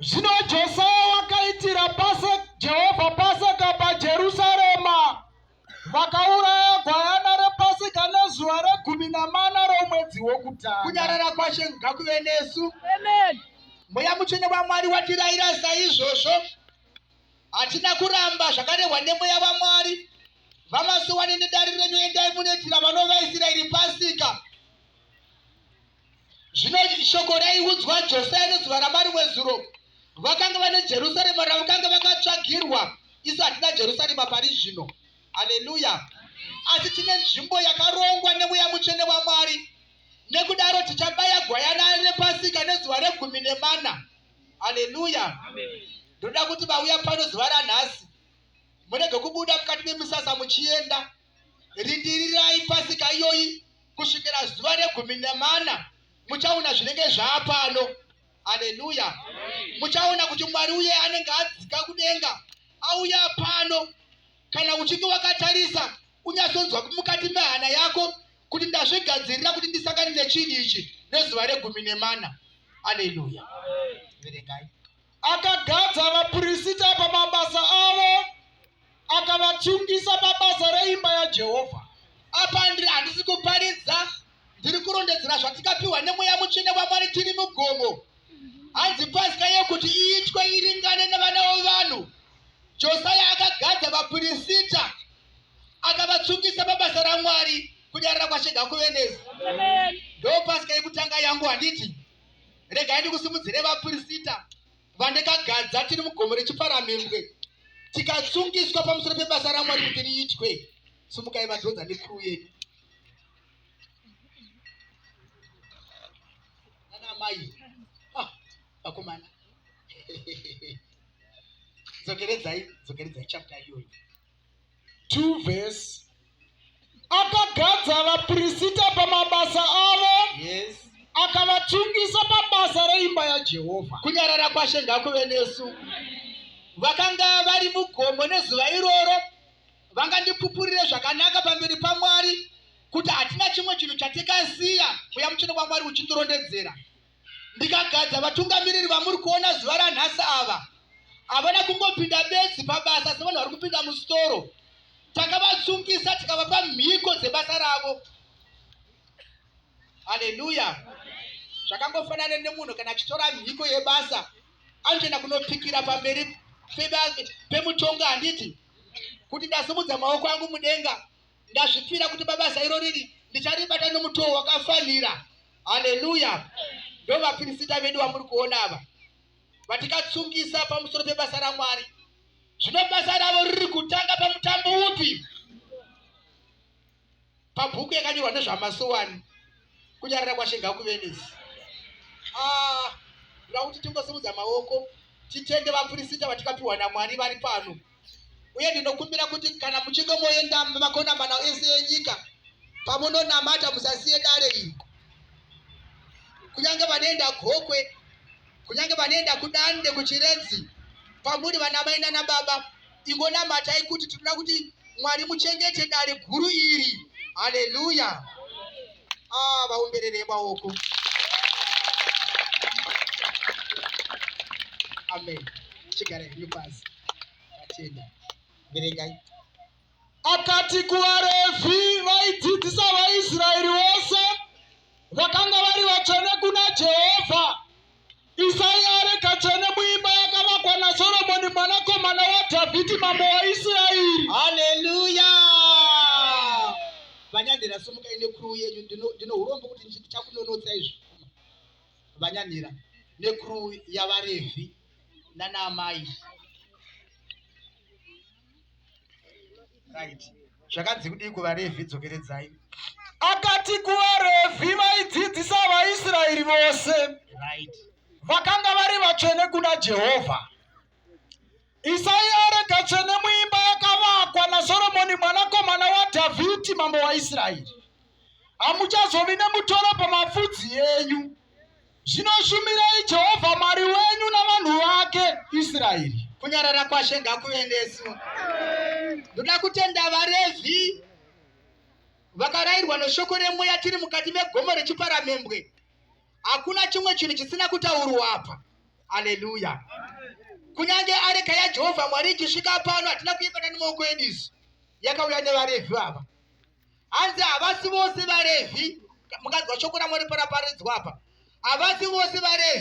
Zvino Josaya wakaitira pase Jehovha paseka paJerusarema, vakauraya gwayana repaseka nezuva regumi namana romwedzi wokutanga. Kunyarara kwaShe ngakuve nesu. Amen. Mweya mutsvene waMwari watirayira saizvozvo. Hatina kuramba zvakarehwa nemweya waMwari. Vamasowani nedare renyu endai munoitira vanovaIsraeri pasika. Zvino shoko raiudzwa Josia nezuva raMwari wezuro, vakanga vane Jerusarema ravakanga vakatsvagirwa. Isu hatina Jerusarema pari zvino. Haleluya! Asi tine nzvimbo yakarongwa nemweya mutsvene waMwari. Nekudaro tichabaya gwayana repasika nezuva regumi nemana. Haleluya! Ndoda kuti vauya pano zuva ranhasi murege kubuda mukati memisasa muchienda Rindirirai pasika iyoyi kusvikira zuva regumi nemana, muchaona zvinenge zvaapano. Haleluya! Muchaona kuti Mwari uye anenge adzika kudenga auya pano. Kana uchinge wakatarisa, unyatsonzwa mukati mehana yako kuti ndazvigadzirira kuti ndisangane nechinhu ichi nezuva regumi nemana. Haleluya! Verengai. Akagadza vapirisita pamabasa avo, akavatsungisa pabasa reimba yaJehovha. Apa ndiri handisi kuparidza, ndiri kurondedzera zvatikapiwa nemweya mutsvene waMwari tiri mugomo. Hanzi Pasika yekuti iitwe iringane nevana vevanhu. Josaya akagadza vapirisita, akavatsungisa pabasa raMwari, kunyarara kwashe ngakuve nesu. Ndopasika yekutanga yangu handiti? regai ndikusimudzire vapirisita vandakagadza tiri mugomo rechiparamembwe tikasungiswa pamusoro pebasa ramwari kuti riitwe sumukai vadhonza nekuru yedu anamai ah, vakomana dzokeredzai dzokeredzai chapta iyoyo 2 verse akagadza vaprista pamabasa avo yes akavachungisa pabasa reimba yajehovha kunyarara kwashe ngakuve nesu vakanga vari mugomo nezuva iroro vangandipupurire zvakanaka pamberi pamwari kuti hatina chimwe chinhu chatikasiya uya muchino kwamwari uchindirondedzera ndikagadza vatungamiriri vamuri kuona zuva ranhasi ava havana kungopinda bedzi pabasa sevanhu vari kupinda musitoro takavasungisa tikavapa mhiko dzebasa ravo haleluya zvakangofanana nemunhu kana achitora mhiko yebasa anotoenda kunopikira pamberi pemutonga handiti kuti ndasimudza maoko angu mudenga Ndazvipira kuti babasa iro riri ndicharibata nomutowo wakafanira. Haleluya! Ndo vapirisita vedu vamuri kuona ava vatikatsungisa pamusoro pebasa raMwari. Zvino basa ravo riri kutanga pamutambo upi? Pabhuku yakanyorwa nezvamasowani kunyarara kwashe ngakuvenesi. Ah, ndoda kuti tingosimudza maoko titende vapirisita vatikapiwa naMwari vari pano. uye ndinokumbira kuti kana muchinge moenda mumakonamana ese enyika pamunonamata musasiye dare iri kunyange vanoenda gokwe kunyange vanoenda kudande kuchiredzi kwamuri vana mai nana baba ingonamatai kuti tinoda kuti mwari muchengete dare guru iri haleluya ah vaombererei maoko amen chigara henyu pasi tatenda verengai akati kuvarevhi vaidzidzisa vaisraeri vose vakanga vari vatsvene kuna jehovha Isai areka tsvene muimba yakavakwa naSoromoni mwanakomana waDhavhidhi mambo waIsraeri. Haleluya! Vanyanhira, simukai nekuruu yenyu. Ndino- Ndino urombo kuti ndichi- ndichakunonotsa izvi. Vanyanhira nekuruu yavaRevhi nanaamai. right zvakanzi kudii kuvarevhi dzokeredzai akati kuvarevhi vaidzidzisa vaisraeri vose right vakanga vari vatsvene kuna jehovha isai areka tsvene muimba yakavakwa nasoromoni mwanakomana wadhavhidhi mambo waisraeri hamuchazovi nemutoro pamafudzi yenyu Zvino shumirai Jehovha Mwari wenyu navanhu vake Israeri. Kunyarara kwaShe ngakuve nesu. Ndoda kutenda vaRevhi vakarairwa neshoko remweya tiri mukati megomo rechiparamembwe. Hakuna chimwe chinhu chisina kutaurwa apa. Haleluya. Kunyange areka yaJehovha Mwari ichisvika pano hatina kuibata nemaoko edu isu. Yakauya nevaRevhi ava. hanzi havasi vose vaRevhi. Mukanzwa shoko raMwari paraparidzwa apa, havasi vose vaRevhi.